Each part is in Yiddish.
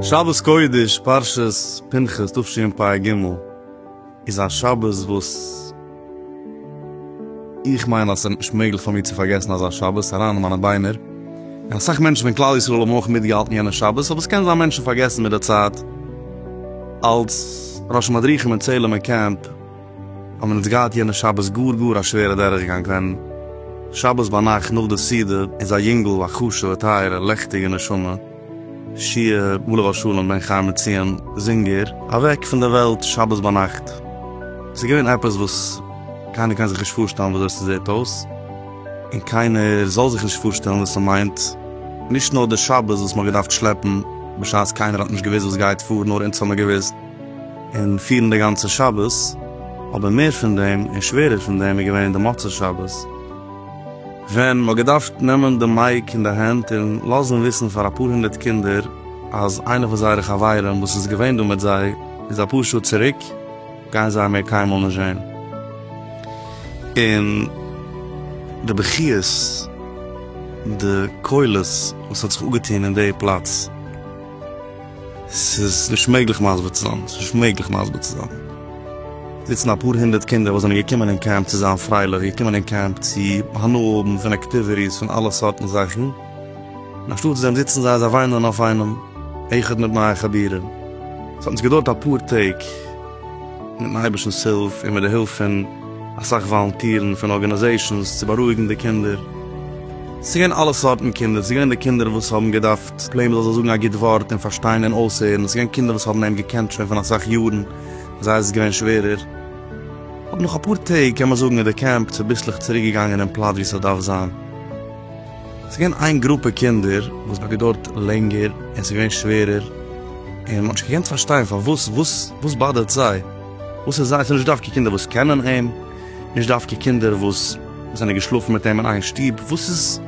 שבת קודש פרשת פנחס תשפ ג איז א שבת וואס. איך מיין אז עס איז נישט מעגליך פאר מיר צו פארגעסן אזא שבת אריין אין מיינע ביינער, און אסאך מענטשן פון כלל ישראל האבן אויך מיטגעהאלטן יענע שבת, אבער עס קען זיין מענטשן פארגעסן מיט די צייט. אלס ראש מדריכים אין צעהלימער קעמפ האבן מיר אונז געהאט יענע שבת גאר גאר א שווערע דורכגאנג ווען שבת ביינאכט נאך די סעודה איז א יונגל א חשוב'ע טייערע לעכטיגע נשמה, שיער ולר' שלום בן חיים מציון זינגער אוועק פון די וועלט שבת ביינאכט. עס איז געווען עפעס וואס קיינער קען זיך נישט פארשטעלן וויאזוי עס זעט אויס, און קיינער זאל זיך נישט פארשטעלן וואס עס מיינט, נישט נאר די שבת וואס מען האט געדארפט שלעפן בשעת קיינער האט נישט געוואוסט וואס גייט פאר, נאר אונז האט מען געוואוסט, און פירן די גאנצע שבת, אבער מער פון דעם און שווערער פון דעם איז געווען די מוצאי שבת. ווען מ'האט געדארפט נעמען די מייק אין די הענט און לאזן וויסן פאר אפאר הונדערט קינדער אז איינע פון זייערע חברים וואס איז געווען דא מיט זיי איז אפאר שעה צוריק גייען זיי מער קיינמאל נישט זען און די בכיות די קולות וואס האט זיך אפגעטון אין די פלאץ. ס'איז נישט מעגליך מסביר צו זיין. ס'איז נישט מעגליך מסביר צו זיין. זיצן אפאר הונדערט קינדער וואס זענען געקומען אין קעמפ צו זיין פרייליך, געקומען אין קעמפ צו הנאה האבן פון אקטיוויטיס, פון אלע סארטן זאכן, און אנשטאט דעם זיצן זיי, זיי וויינען אויף איינעם, איחוד מיט נייע חבירים. ס'האט אונז געדויערט אפאר טעג, מיט'ן אייבערשטנ'ס הילף און מיט די הילף פון אסאך וואלונטירן פון ארגאניזעישאנס, צו בארואיגן די קינדער. ס'איז געווען אלע סארטן קינדער, ס'איז געווען די קינדער וואס האבן געדארפט ס'איז פלעין מ'זאל זיך זאגן א גוט ווארט און פארשטיין און אויסהערן. ס'איז געווען קינדער וואס האבן אים געקענט שוין פון אסאך יארן, פאר זיי איז עס געווען שווערער. אבער נאך אפאר טעג קען מען זאגן איז די קעמפ צוביסלעך צוריק געגאנגען אין פלאץ ווי ס'דארף זיין. ס'איז געווען איין גרופע קינדער וואס האט געדויערט לענגער און ס'איז געווען שווערער, און מ'האט נישט געקענט פארשטיין פארוואס, וואס וואס באדערט זיי? וואס איז זיי? ס'איז נישט דווקא קינדער וואס קענען אים, נישט דווקא קינדער וואס זענען געשלאפן מיט אים אין איין שטוב, וואס איז?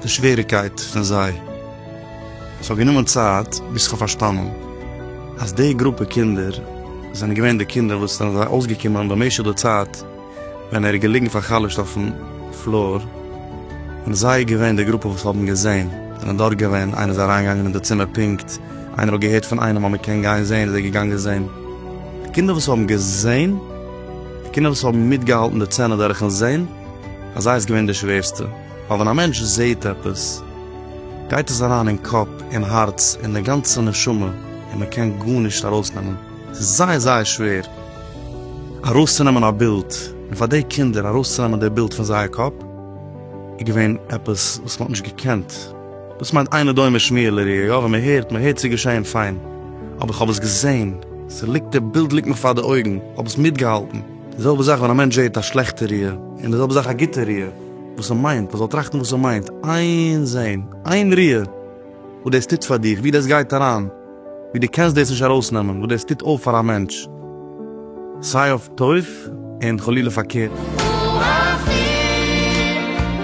די שוועריקייט פון זיי. עס האט גענומען צייט ביז כ'האב פארשטאנען אז די גרופע קינדער זענען געווען די קינדער וואס זענען זיי אויסגעקומען במשך די צייט ווען ער איז געליגן פאר'חלש'ט אויפן פלאר, און זיי געווען די גרופע וואס האבן געזען, זענען דארט געווען, איינער איז אריינגעגאנגען אין די צימער פונקט, איינער האט געהערט פון איינעם אז מען קען גיין זען איז ער געגאנגען זען. די קינדער וואס האבן געזען, די קינדער וואס האבן מיטגעהאלטן די צענע דורכן זען, ביי זיי איז געווען די שווערסטע. ווייל ווען א מענטש זעהט עפעס גייט עס אריין אין קאפ, אין הארץ, אין די גאנצע נשמה, און מען קען גארנישט ארויסנעמען, ס'איז זייער זייער שווער ארויסצונעמען א בילד, און פאר די קינדער ארויסצונעמען די בילד פון זייער קאפ איז געווען עפעס וואס מען האט נישט געקענט, דאס מיינט אינו דומה שמיעה לראייה, יא ווען מען הערט, מען הערט ס'איז געשעהן פיין, אבער איך האב עס געזעהן, ס'ליגט, די בילד ליגט מיך פאר די אויגן, איך האב עס מיטגעהאלטן. די זעלבע זאך ווען א מענטש זעהט א שלעכטע ריאה, און די זעלבע זאך א גוטע ריאה, וואס ער מיינט, ער זאל טראכטן וואס ער מיינט, איין זעהן, איין ריאה, וואס דאס טוט פאר דיך, ווי דאס גייט אריין, ווי דו קענסט דאס נישט ארויסנעמען, וואס דאס טוט אויף פאר א מענטש, סיי אויף טוב און חלילה פארקערט.